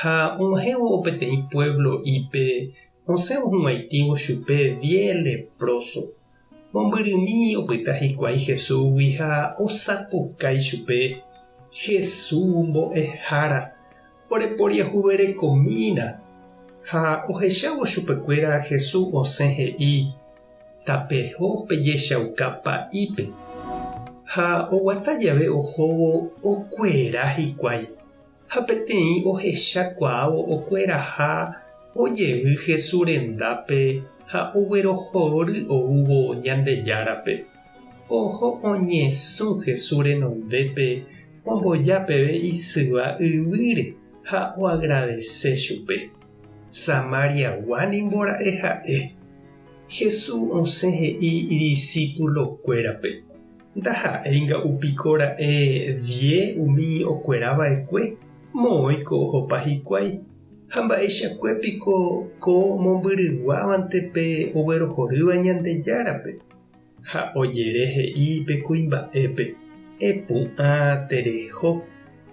ha og̃uahẽvo peteĩ puévlo ípe osẽ ohuvaitĩvo chupe vie lepróso. Mombyrymi opyta hikuái Jesúsgui ha osapukái chupe, Jesú Mbo'ehára, oreporiahuverekomína. Ha ohechávo chupekuéra Jesús osẽ he'i, Tapeho pejechauka pa'ípe. Ha oguata jave ohóvo okuera hikuái. Ha peteĩ ohechakuaávo okueraha ojevy Hesu rendápe ha oguerohory oúvo Ñandejárape. Oho oñesũ Hesu renondépe omboja peve isyva yvýre ha oagradese chupe. Samariagua ningo ra'e ha'e. Hesu osẽ he'i idisipulokuérape. Ndaha'éinga upiko ra'e vie umi okuera va'ekue moõi ko ohopa hikuái, ha mba'eichakue piko ko mombyryguávante pe oguerohorýva Ñandejárape? Ha ojere he'i pe kuimba'épe, Epu'ã tereho.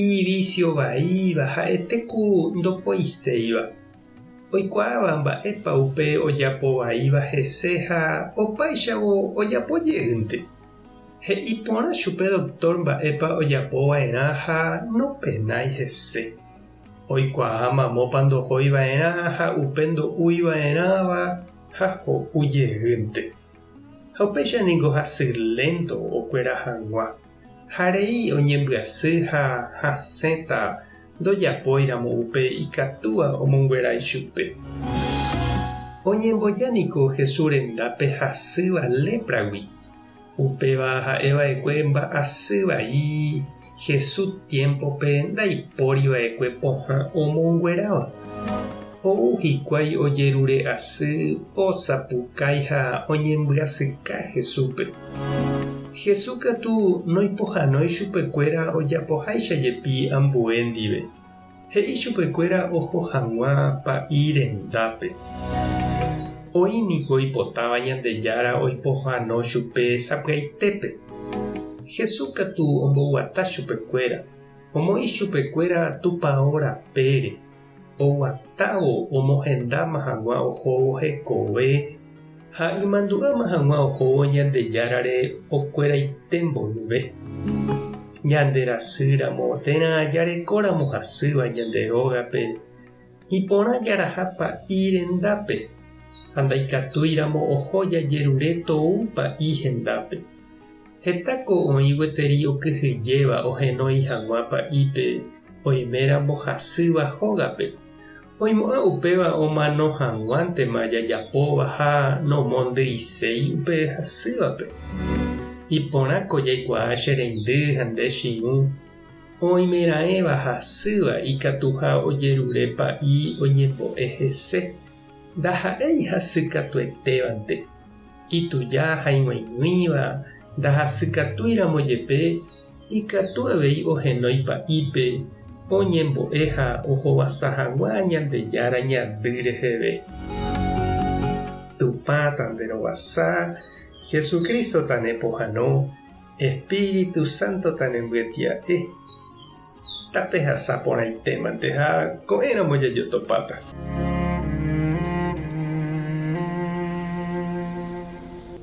Iñivísio vaíva ha'ete ku ndopoiséiva. Oikuaáva mba'épa upe ojapo vaíva hese ha opáichavo ojapo jeýnte. He'i porã chupe doktór mba'épa ojapo va'erã ha nopenái hese. Oikuaa mamópa ndohói va'erã ha upe ndo'úi va'erãva ha ho'u jeýnte. Ha upéicha ningo hasy lénto okuera hag̃ua, ha rei oñembyasy ha hasẽta ndojapóiramo upe ikatúva omonguera ichupe. Oñemboja niko Jesús rendápe hasýva lépragui, upéva ha'e va'ekue mba'asy vai. Jesús tiémpope ndaipóri va'ekue pohã omongueráva. Ou hikuái ojerure asy, osapukái ha oñembyasyka Jesúspe. Jesús katu noipohánói chupekuéra ojapoháicha jepi ambue ndive. He'i chupekuéra oho hag̃ua pa'i rendápe. Oĩ niko oipotáva Ñandejára oipohano chupe sapy'aitépe. Jesús katu omboguata chupekuéra, omoĩ chupekuéra Tupao rapére, oguatávo omohendáma hag̃ua ohóvo hekove. Ha imandu'áma hag̃ua ohóvo Ñandejárare okueraite mboyve, ñande rasýramo térã jarekóramo hasýva ñande rógape iporã jaraha pa'i rendápe, ha ndaikatúiramo oho jajerure tou pa'i hendápe. Heta ko oĩ gueteri okyhyjéva ohenói hag̃ua pa'ípe oiméramo hasýva hógape, Oimo'ã upéva omano hag̃uántema jajapóva ha nomondyiséi upe hasývape. Iporã ko jaikuaa che reindy ha nde chiru, oimeraẽva hasýva ikatuha ojerure pa'i oñembo'e hese, ndaha'éi hasykatuetévante, ituja ha ig̃uaig̃uíva ndahasykatúiramo jepe Ikatu avei ohenói pa'ípe oñembo'e ha ohovasa hag̃ua Ñandejára Ñandy reheve. Tupã tanderovasa, Jesucristo tanepohãno, Espíritu Santo tanembyatia'e. Tapehasa porãitémante ha ko'ẽramo jajotopáta.